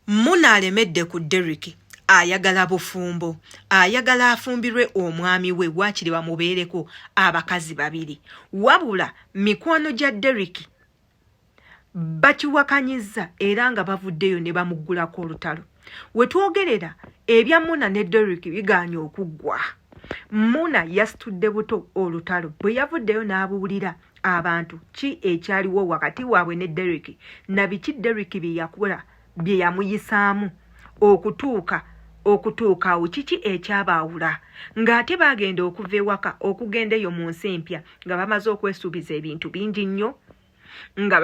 Muna alemedde ku Derrick ayagala bufumbo ayagala afumbirwe omwami we waakiri bamubeereko abakazi babiri wabula mikwano gya Derrick bakiwakanyizza era nga bavuddeyo ne bamuggulako olutalo we twogerera ebya Muna ne Derrick bigaanye okuggwa Muna yasitudde buto olutalo bwe yavuddeyo n'abuwulira abantu ki ekyaliwo wakati waabwe ne deriki nabiki deriki byeyakola bye yamuyisaamu okutuuka okutuuka awo kiki ekyabaawula ng'ate baagenda okuva ewaka okugenda eyo mu nsi empya nga bamaze okwesuubiza ebintu bingi nnyo nga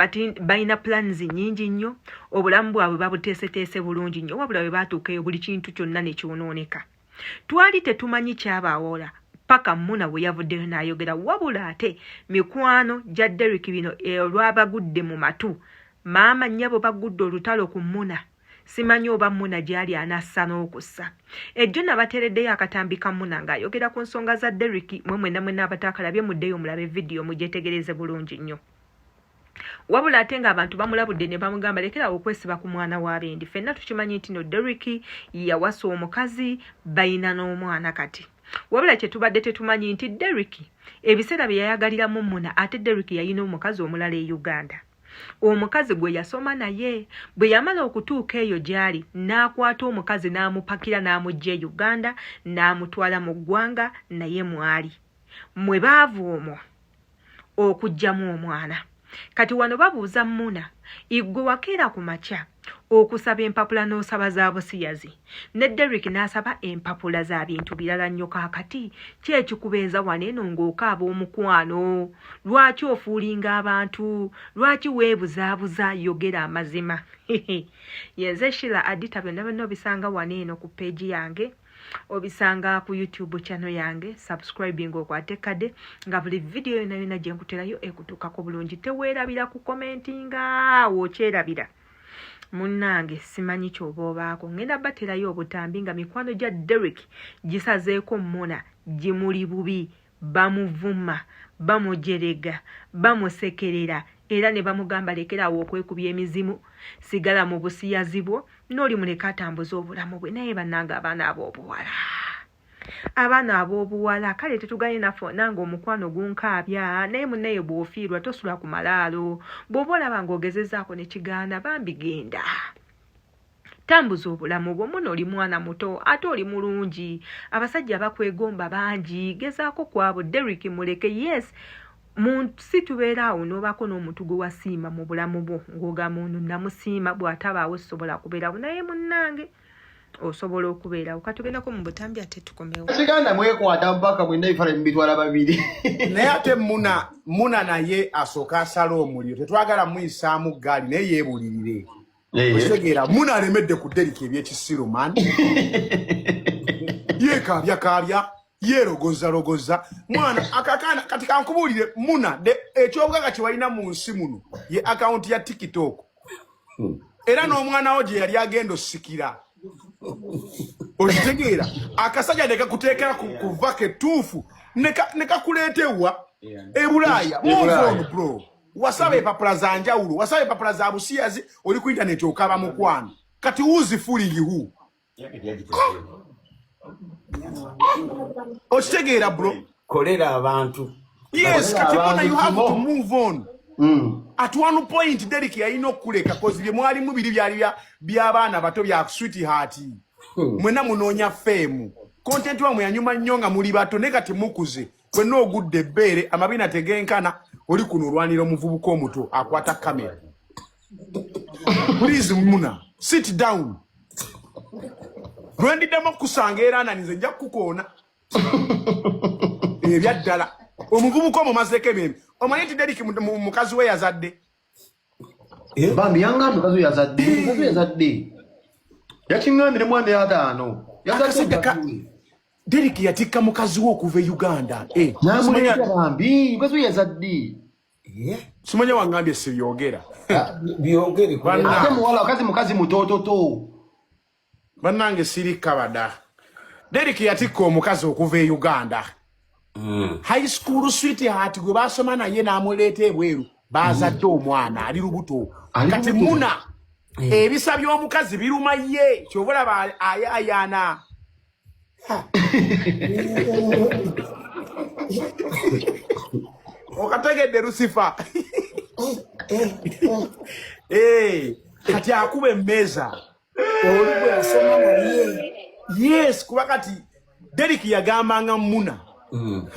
balina plans nyingi nnyo obulamu bwabwe babuteeseteese bulungi nnyo wabula bwe baatuukaeyo buli kintu kyonna ne kyonooneka twali tetumanyi kyabaawoola paka muna bwe yavuddeyo n'ayogera wabula ate mikwano gya derik bino eh, olwabagudde mu matu maama nnyabo bagudde olutalo ku muna simanyi oba muna gyali anassa n'okussa ejjo nabateereddeyo akatambi ka muna ng'ayogera ku nsonga za derik mwe mwena mwena abataakalabye muddeyo mulabe vidiyo mugyetegereze bulungi nnyo wabula ate nga abantu bamulabudde ne bamugamba lekera okwesiba ku mwana wa bendi fenna tukimanyi nti no Derrick yawasa omukazi bayina n'omwana kati wabula kye tubadde tetumanyi nti Derrick ebiseera bye yayagalira mu muna ate Derrick yayina omukazi omulala e Uganda omukazi gwe yasoma naye bwe yamala okutuuka eyo gy'ali n'akwata omukazi n'amupakira n'amugja e Uganda n'amutwala mu ggwanga naye mwali mwe baava omwo okujjamu omwana kati wano babuuza muna igwe wakeera ku makya okusaba empapula n'osaba za busiyazi ne derrick n'asaba empapula za bintu birala nnyo kaakati ki ekikubeeza wano eno ng'okaaba omukwano lwaki ofuulinga abantu lwaki weebuzaabuza yogera amazima yenze shila adita byonna byonna obisanga wano eno ku peegi yange obisanga ku youtube channel yange subscribing okwate kade nga buli video yona yona gyenkuterayo ekutukako bulungi tewerabira ku commentinga wokyerabira munange simanyi kyoba obaako ngenda baterayo obutambi nga mikwano gya derek gisazeeko mona gimuli bubi bamuvuma, bamujerega, bamusekerera era ne bamugamba lekera awo okwekubya emizimu, sigala mu busiyazi bwo, n'oli muleke atambuze obulamu bwe. Naye bannange abaana ab'obuwala, abaana ab'obuwala, kale tetuganye naffe nange omukwano gunkaabya, naye munnaye bw'ofiirwa tosula ku malaalo, bw'oba olaba ng'ogezezaako ne kigaana bambi genda. tambuza obulamu bwo muno oli mwana muto ate oli mulungi abasajja bakwegomba bangi gezaako kwabo derik muleke yes munsi tubeera awo nobaako n'omuntu gwe wasiima mu bulamu bwo ng'ogamba ono namusiima bw'atabaawo sisobola kubeerawo naye munnange osobola okubeerawo katugendako mu butambi ate tukomewo kiganda mwekwata mpaka mwena ebifala mubitwala babiri naye ate muna muna naye asooka asala omuliro tetwagala muyisaamu gaali naye yeebulirire eh. okitegeera muna alemedde ku derika ebyekisiru man yekaabya kaabya yerogoza rogoza mwana akakana kati kankubuulire muna ekyobugaga kyewalina mu nsi muno ye akawunti ya tiktok hmm. era n'omwana wo gye yali agenda osikira okitegeera akasajja ne kakuteekera kuva ketuufu ne kakuleeta ewa ebulaaya move on bro wasaba empapula za njawulo wasaba empapula za busiyazi oli ku intaneti okaba mukwano kati wuzi fulingi hu okitegeera bro kolera abantu yes kati bona you have to move on Mm. At one point Derek yalina okuleka cause bye mwali mu biri byali bya byabaana bato bya sweet heart. Hmm. Mwena munonya fame. Content wa mwanyuma nyonga muli bato ne kati mukuze. fenna ogudde ebbeere amabina tegenkana oli kuno olwanira omuvubuka omuto akwata kamera please muna sit down lwendiddamu okukusanga era ananize nja kukukoona ebyaddala omuvubuka omumazeeko ebyembi omanyi nti deriki mukazi we yazadde Eh? bambi yangamba mukazi oyo yazadde eh. mukazi yazadde yakiŋambire mwana yataano derik yatikka mukazi we okuva e uganda eh. namulabambi mukazi oyo yazadde simanya wangambye sibyogera ah, byogere mukazi mutototo Banange siri kabada. Derek yatikka omukazi okuva e Uganda. Mm. High school sweetheart gwe basoma naye n'amuleeta ebweru bazadde mm. omwana ali lubuto kati muna mm. ebisa by'omukazi biruma ye kyova olaba ayayaana okategedde lusifa eh, kati akuba emmeeza olugwe yasoma naye yes kuba kati derik yagambanga muna mm.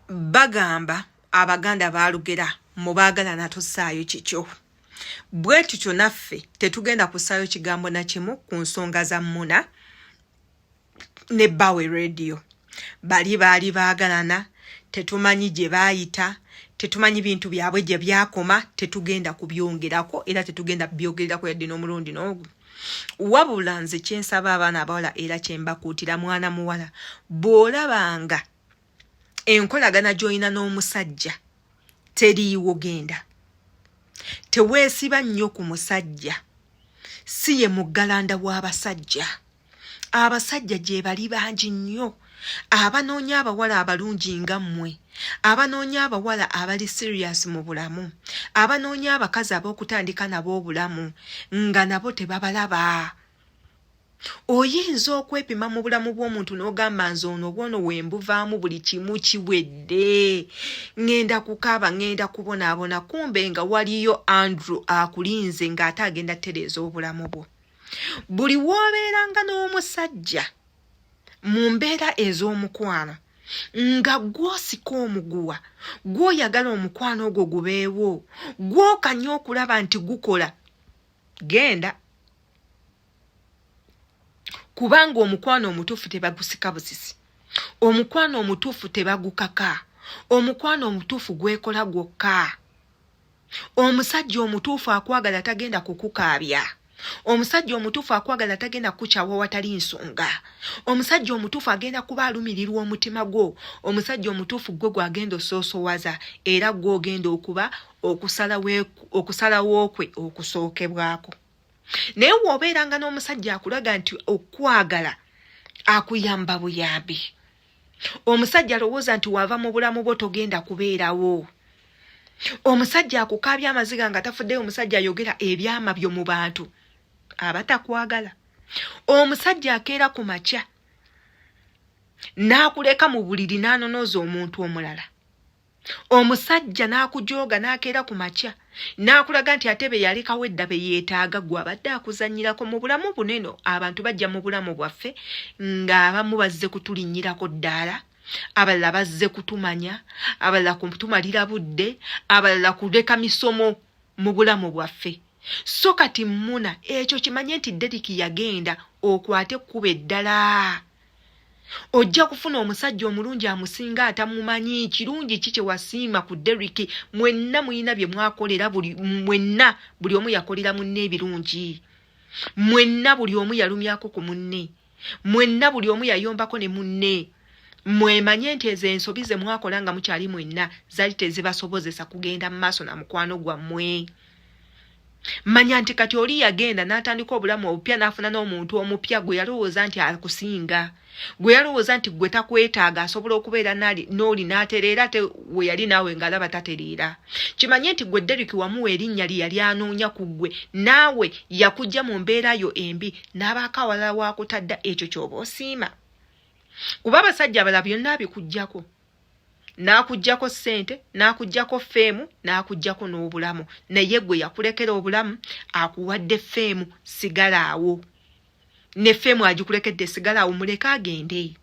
bagamba abaganda balugera mubagala natusaayo kikyo bwe tutyo naffe tetugenda kusaayo kigambo nakimu ku nsonga za muna ne bawe radio bali baali baagalana tetumanyi gye baayita tetumanyi bintu byabwe gye byakoma tetugenda kubyongerako era tetugenda byogererako yadde n'omulundi n'ogu wabula nze kyensaba abaana abawala era kyembakuutira mwana muwala bw'olabanga enkolagana gy'olina n'omusajja teriiwo genda teweesiba nnyo ku musajja si ye muggalanda w'abasajja abasajja gyebali bangi nnyo abanoonya abawala abalungi nga mmwe abanoonya abawala abali serious mu bulamu abanoonya abakazi ab'okutandika nabo obulamu nga nabo tebabalaba oyinza okwepima mu bulamu bw'omuntu n'ogamba nze ono obwono wembuvaamu buli kimu kiwedde ŋŋenda kukaaba ŋŋenda kubonaabona kumbe nga waliyo andrew akulinze ng'ate agenda tereeza obulamu bwo buli w'obeeranga n'omusajja mu mbeera ez'omukwano nga gw'osika omuguwa gw'oyagala omukwano ogwo gubeewo gw'okanya okulaba nti gukola genda kubanga omukwano omutuufu tebagusika busisi omukwano omutuufu tebagukaka omukwano omutuufu gwekola gwokka omusajja omutuufu akwagala tagenda kukukaabya omusajja omutuufu akwagala tagenda kukukyawa watali nsonga omusajja omutuufu agenda kuba alumirirwa omutima gwo omusajja omutuufu gwe gwagenda osoosowaza era gwogenda okuba okusalawo kwe okusookebwako naye woobeeranga n'omusajja akulaga nti okwagala akuyamba buyambi omusajja alowooza nti waava mu bulamu bwo togenda kubeerawo omusajja akukaabya amaziga nga tafuddeyo omusajja ayogera ebyama byo mu bantu aba takwagala omusajja akeera ku makya n'akuleka mu buliri n'anonooza omuntu omulala omusajja n'akujooga n'akeera ku makya n'akulaga nti ate be yalekawo edda be yeetaaga gwe abadde akuzannyirako mu bulamu buneno abantu bajja mu bulamu bwaffe ng'abamu bazze kutulinnyirako ddaala abalala bazze kutumanya abalala kutumalira budde abalala kuleka misomo mu bulamu bwaffe so kati mmuna ekyo kimanye nti deriki yagenda okwate ekkuba eddala ojja kufuna omusajja omulungi amusinga atamumanyi kirungi ki kyewasiima ku derik mwenna mulina bye mwakolera buli mwenna buli omu yakolera munne ebirungi mwenna buli omu yalumyako ku munne mwenna buli omu yayombako ne munne mwemanye nti ezo ensobi ze mwakola nga mukyali mwenna zali tezibasobozesa kugenda mu maaso na mukwano gwammwe manya nti kati oli yagenda n'atandika obulamu obupya n'afuna n'omuntu omupya gwe yalowooza nti akusinga gwe yalowooza nti gwe takwetaaga asobola okubeera n'oli n'atereera ate we yali naawe ng'alaba tatereera kimanye nti gwe derik wamuwa erinnya lye yali anoonya ku ggwe naawe yakujja mu mbeera yo embi n'abaako awalala waakutadda ekyo ky'oba osiima kuba abasajja abala byonna abikugyako n'akugyako ssente n'akugyako feemu n'akugyako n'obulamu naye gwe yakulekera obulamu akuwadde feemu sigala awo ne feemu agikulekedde sigala awo muleke agende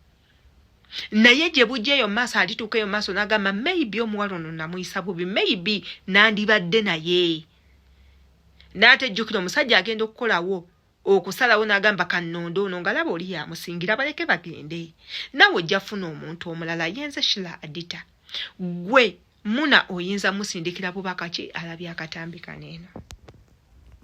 naye gye bujja eyo maaso alituuka eyo maaso n'agamba maybe omuwala ono namuyisa bubi maybe nandibadde naye n'atejjukira omusajja agenda okukolawo okusalawo n'agamba kannonda ono ngalaba oli yamusingira baleke bagende nawe ojja funa omuntu omulala yenze shila adita gwe muna oyinza musindikira bubaka ki alabye akatambi kaneeno